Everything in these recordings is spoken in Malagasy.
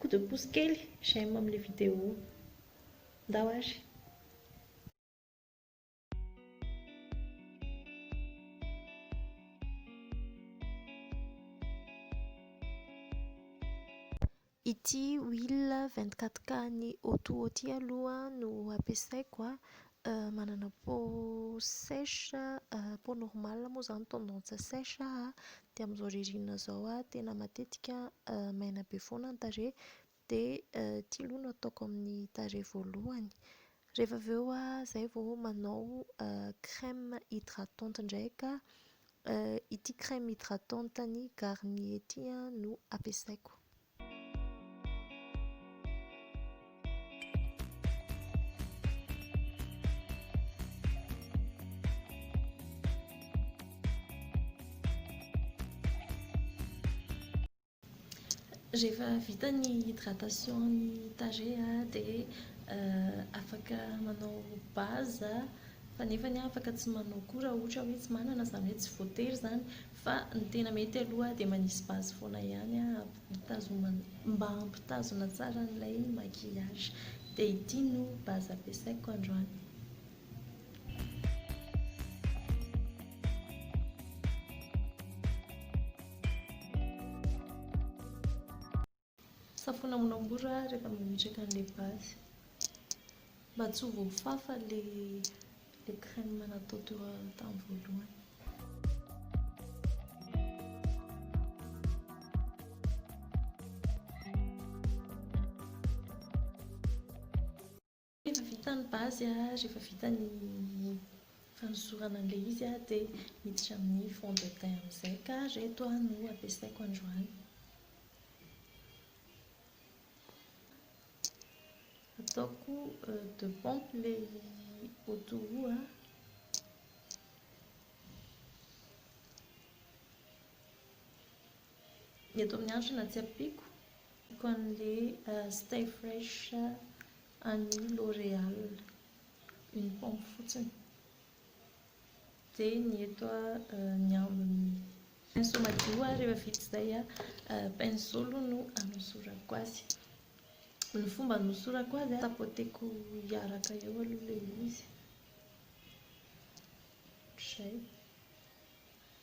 Koto pouce kely j'aime amle vidéo ndao ary. Ity huile 24K an'i Oto ity aloha no ampiasaiko Manana peau sèche, peau normale moa izany tendance sèche aho dia amin'izao ririnina izao tena matetika maina be foana ny tarehy dia ity aloha no ataoko amin'ny tarehy voalohany. Rehefa avy eo aho izay vao manao crème hydratante indray ka ity crème hydratante an'ny Garnier ity no ampiasaiko. Rehefa vita ny hydratation ny tarehy dia afaka manao base fa nefany afaka tsy manao koa raha ohatra hoe tsy manana izany hoe tsy voatery izany Fa ny tena mety aloha dia manisy base foana ihany hampitazoma mba hampitazona tsara an'ilay maquillage. Dia ity no base ampiasaiko androany. Safoina amoramora rehefa mametraka an'ilay base mba tsy ho voafafa ilay ilay crème natao teo tamin'ny voalohany. Rehefa vita ny base, rehefa vita ny fanosorana an'ilay izy dia miditra amin'ny fond de teint amin'izay ka ireto no ampiasaiko androany. Ataoko deux pompes ilay auto roue. Ny eto amin'ny andrina tsy ampiako ampiako an'le stay fresh an'ny l'oreal une pompe fotsiny dia ny eto ny ambiny pinceau madio ary rehefa vita izay pinceau aloha no anosorako azy ny fomba anosorako azy tapoteko hiaraka eo aloha ilay izy ohatran'izay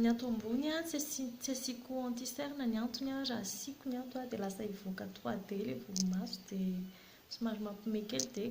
Ny ato ambony tsy asian tsy asiako anti cerne ny antony raha asiako ny ato dia lasa hivoaka trois D ilay volomaso dia somary mampime kely dia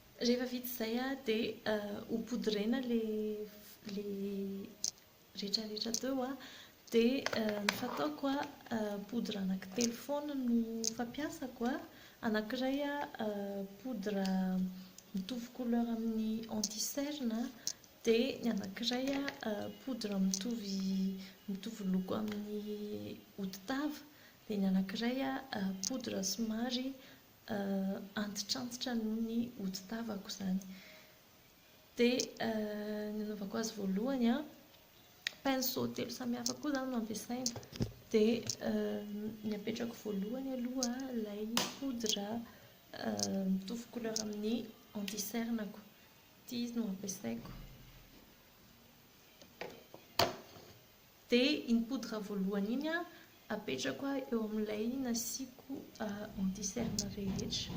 Rehefa vita izay an, dia ho poudrena ilay rehetrarehetra teo an, dia ny fataoko an, poudre anankitelo foana no fampiasako an, anankiray an poudre mitovy couleur amin'ny anti cerne an, dia ny anankiray an poudre mitovy mitovy loko amin'ny hodi-tava, dia ny anankiray an poudre somary antitrantitra noho ny hodi-tavako izany. Dia ny anaovako azy voalohany an, pinceau telo samihafa koa izany no ampiasaina. Dia ny apetrako voalohany aloha ilay poudre mitovy couleur amin'ny anti-cerne-ko. Ity izy no ampiasaiko. Dia iny poudre voalohany iny apetrako eo amin'ilay nasiako anti cerne rehetra.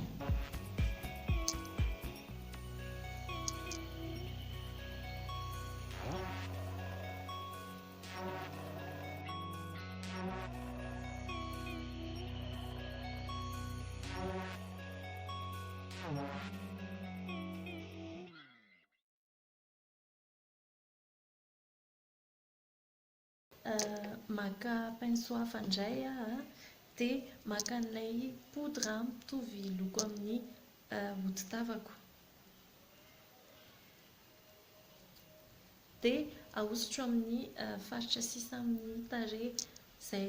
Maka pinceau hafa indray aho an, dia maka an'ilay poudre mitovy loko amin'ny hodi-tavako. Dia ahosotro amin'ny faritra sisa amin'ny tarehy izay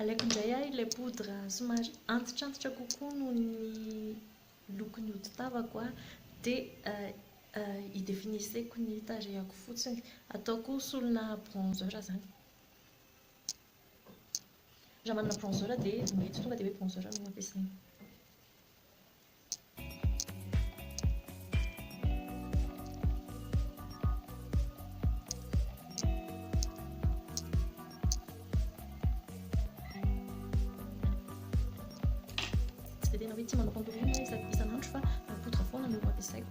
Alaiko indray ahy ilay poudre somary antitrantitra kokoa noho ny lokon'ny hodi-tavako aho dia euh, euh, idefiniseko ny tarehako fotsiny. Ataoko solona bronzer izany. Raha manana bronzer dia mety tonga dia hoe bronzer no ampiasaina. Tsy dia tena hoe tia manao contourine isan'andro fa poudre foana no ampiasaiko.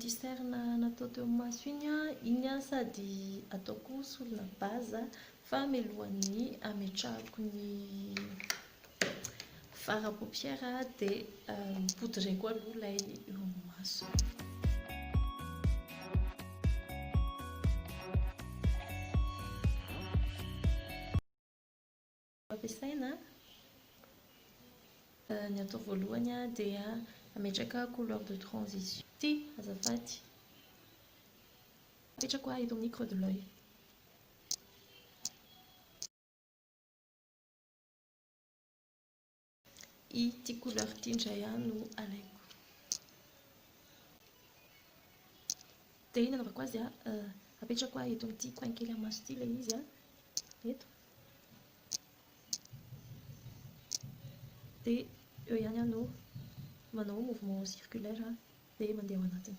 Diserne natao teo amin'ny maso iny an, iny an sady ataoko solona base fa mialohan'ny ametrahako ny fard à paupière dia poudreko aloha ilay eo amin'ny maso. Ampiasaina, Ny atao voalohany dia ametraka couleur de transition. Ity azafady. Apetrako eto amin'ny creux de l'oeil. Ity couleur ity indray aho no alaiko. Dia nanaovako azy a, apetrako ahy eto amin'ity coin kely amin'ny maso ity ilay izy a, eto. Dia eo ihany aho no manao mouvement circulaire dia mandeha ao anatiny.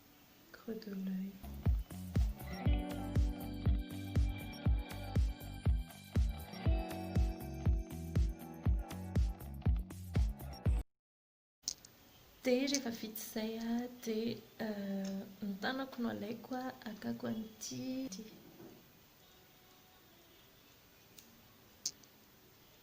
Creux de l'oeil. Dia rehefa vita izay an, dia ny tanako no alaiko an, hakako an'ity.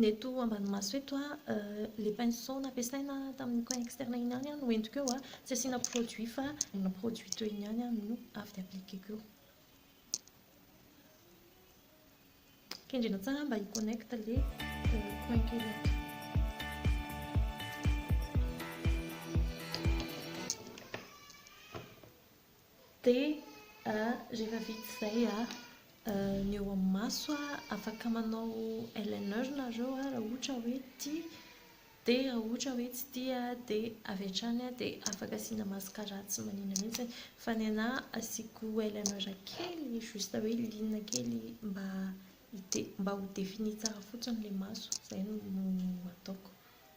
Ny eto ambany maso eto, ilay pinceau nampiasaina tamin'ny coin externe iny ihany no entiko eo, tsy asiana produit fa ny produit teo iny ihany no avy dia appliqueko eo. Kendrena tsara mba hi-connect ilay coin kely ato. Dia rehefa vita izay ny eo amin'ny maso, afaka manao eyeliner nareo raha ohatra hoe tia, dia raha ohatra hoe tsy tia dia avy hatrany dia afaka asiana mascara tsy manina mihitsy. Fa ny anà asiako eyeliner kely juste hoe liana kely mba hide- mba ho défini tsara fotsiny ilay maso, izay no ataoko.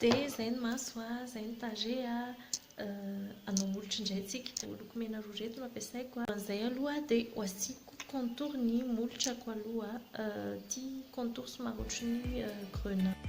Dia izay ny maso a, izay ny tarehy a, anao molotra indray tsika. Ireo loko mena roa ireto no ampiasaiko. Alohan'izay aloha dia ho asiako contour ny molotrako aloha, ity contour somary ohatry ny grenat.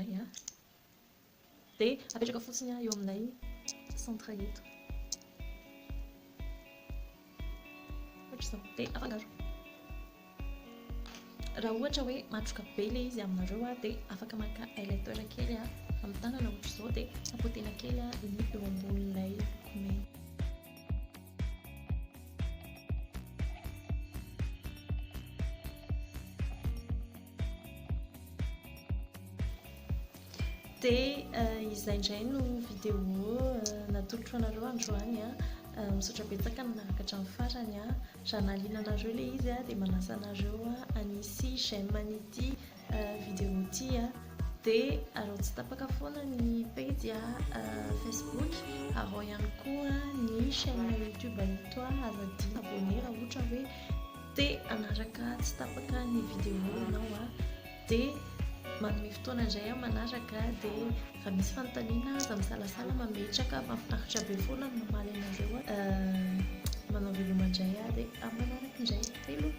Ay a! Dia apetraka fotsiny aho eo amin'ilay centre eto. Ohatr'izao. Dia afangaro. Raha ohatra hoe matroka be ilay izy aminareo dia afaka maka aileteur kely amin'ny tanana ohatr'izao dia tapotena kely ny eo ambonin'ilay lokomena. Dia izay indray no vidéo natolotro anareo androany a. Misaotra betsaka ny nanaraka hatramin'ny farany a. Raha nahaliana anareo ilay izy a dia manasa anareo hanisy j'aime an'ity vidéo ity a. Dia araho tsy tapaka foana ny pejy facebook, araho ihany koa ny chaîne youtube Itoa Azadina abonné raha ohatra hoe Te hanaraka tsy tapaka ny vidéo ianao a dia manome fotoana indray aho manaraka dia raha misy fanontaniana aza misalasala mametraka mahafinaritra be foana ny mamaly anareo a manao veloma indray aho dia amin'ny manaraka indray veloma